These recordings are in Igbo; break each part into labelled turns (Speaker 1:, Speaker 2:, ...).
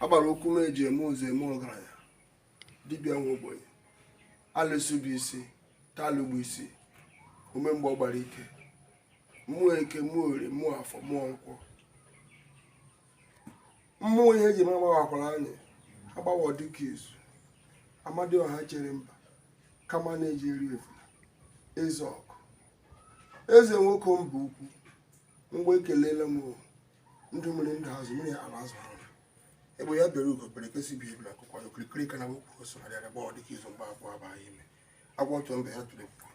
Speaker 1: agbara okwu m eji eme ụzọ eme ọgaranya dibịa nwa ogbenye alụsị bụ isi talụ bụ isi ume mgbe ọ gbara ike mmụọ eke mmụọ orie mmụọ afọ mmụọ nkwọ mmụọ ihe eji ma agbawakwala anyị agbawo dike izu amadioha chere mba kama na-eji eri efula eze ọkụ eze nwoke mba ukwu mgbe ekelela m ndụ mmiri ndụ azụ mmiri atala azụ anwụla egbe ya bere ugo bere nke sị ibe ebela nku kwaa ya okirikiri ka a na-agba ukwu ose a na-adịghị arị agbawo dike izu mgba abụọ abaa ya ime agwọ tụọ mbe ya tụrụ ọkpụkpụ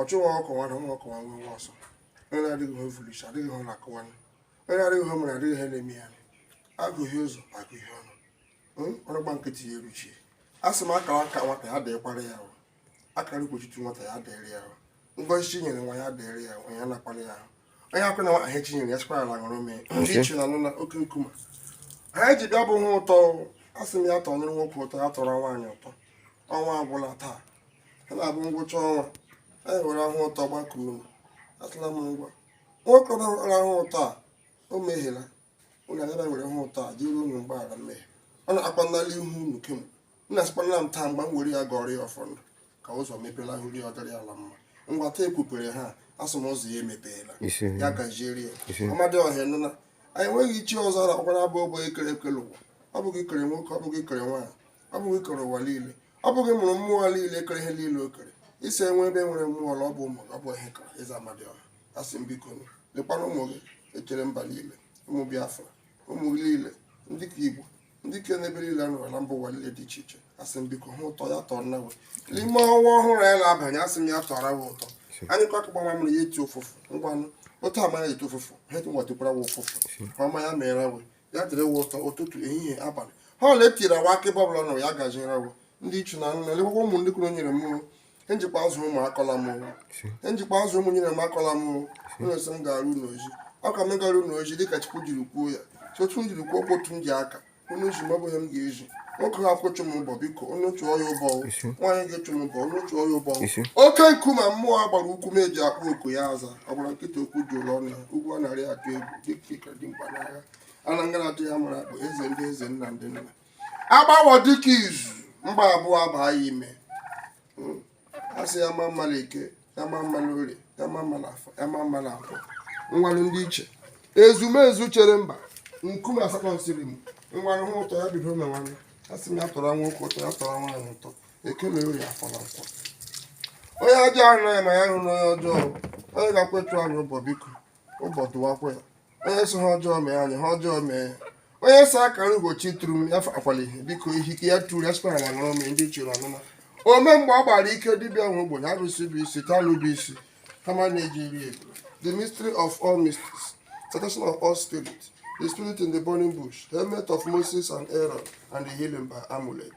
Speaker 1: ọchụ nwa ọkụkọ nwe ada nwa ọkụkọ nwe nwa ọsọ onye na-adịghị ihe o vu n'isi adịghị ihe ọ na-akụwa onye na-adịghị ihe o mere adịghị ihe na-eme ya agụghị ụzọ agụghị ọnụ ọrụ gba nkịtị ya eruchie a sị m akara aka nwata ya dịkwara ya akara mkpochitu nwata ya dịrị ya ngozi chi nyere nwa ya dịrị ya nwa ya nakwara ya ahụ onye akwụna nwa ihe chi nyere ya sịkwara ala ṅụrụ mee ndị ichie nna nna oke nkume ha ji bịa bụ ahụ ụtọ asị m ya tọrọ nwoke ụtọ ya tọrọ nwaanyị ụtọ ọnwa agwụla taa ha na-abụ ngwụcha ọnwa anyị were ahụ ụtọ gbakuo m atụla m ngwa nwoke ọbara ahụ ụtọ a o mehiela ụlọ abịa were ahụ ụtọ arịọ unu mgbaghara mmehie ọ na-akpa n'ihu unu kemgbe nna sịkwana m taa mgbe m were ya gọrọ ya ọfọ ndụ ka ụzọ mepela hụri ọ dịrị ala mma ngwa taa ekwupere ha a sị m ụzọ ya emepeela ya gaziere ya amadioha nna anyị enweghị chi ọzọ ara ọkwara ọ bụ gị bụ okike kere ụwa ọ bụ gị kere nwoke ọ bụ gị kere nwaanyị ọ bụ gị kere ụwa niile ọ bụ gị mụrụ mmụọ niile kere ihe niile o kere isi enwe ebe nwere mmụọ ọ bụ ụmụ ọ bụ ihe kara ịza amadioha asị m biko lekwana ụmụ gị echere mba niile ụmụ biafra ụmụ niile ndị ka igbo ndị ike n'ebe niile ha nọrọ na mba ụwa niile dị iche iche asị m biko ahụ ụtọ ya tọrọ wa n'ime ọnwa ọhụrụ a na-abanye asị m ya tọrọ wa ụtọ anyị kwa akụgba mamụrụ ya eti ụfụfụ ngwanụ otu ama ya eti ụfụfụ ha eji nwatukwara wa ụfụfụ ọma ya mere we ya dịrị wa ụtọ ụtụtụ ehihie abalị ihe ọbụla e tiri wa aka ebe ọbụla nọ ya gaziere wa ndị ichie nna nna elekwa ụmụ ndị kwuru nyere mmụrụ ihe m jikwa azụ ụmụ akọla m ihe m jikwa azụ ụmụ i nyere m akọla m ụlọ nsọ m gara unu ozi ọ ka m gara unu ozi dịka chukwu jiri kwuo ya sotu m jiri kwuo okwu otu m ji aka onye ji m ọ bụghị m ga-eji nwoke ha kwụchụ m ụbọ biko onye chụọ ya ụbọ nwaanyị ga-echụ m ụbọ onye chụọ ya ụbọ oke nkume mmụọ agbara ukwu m eji akpọ oku ya aza ọ gbara nkịtị okwu dị n'ọnụ ugwu a na-arị atụ egwu dike dị mkpa n'agha ala ngara atụ ya mara akpụ eze ndị eze nna ndị nna agbawo dike izu mgba abụọ abaa ya ime hmm. a sị ya ma mma na eke ya ma mma na orie ya ma mma na afọ ya ma mma na nkwọ ngwanụ ndị ichie ezumezu chere mba nkume asatọ nsiri m ngwanụ ahụ ụtọ ya bido mewanụ a sị m ya tọrọ nwoke ụtọ ya tọrọ nwaanyị ụtọ eke na orie afọ na nkwọ onye ọjọọ ahụna ya ma ya ahụna onye ọjọọ onye ga-akwetu anyị ụbọ biko ụbọdụwakwa onye sị ihe ọjọọ mee anyị ihe ọjọọ mee onye sị akara ugochi tụrụ m ya akwali biko ihike ya tụrụ ya sịkwara na ṅụrụ m ndị chụrụ anụma ome mgbe ọ gbara ike dibịa nwe ogbenye arụsị bụ isi talụ bụ isi kama na-eji iri ego the mystery of all mysteries salvation of all spirits the spirit in the burning bush helmet of moses and aaron and the healing by amulet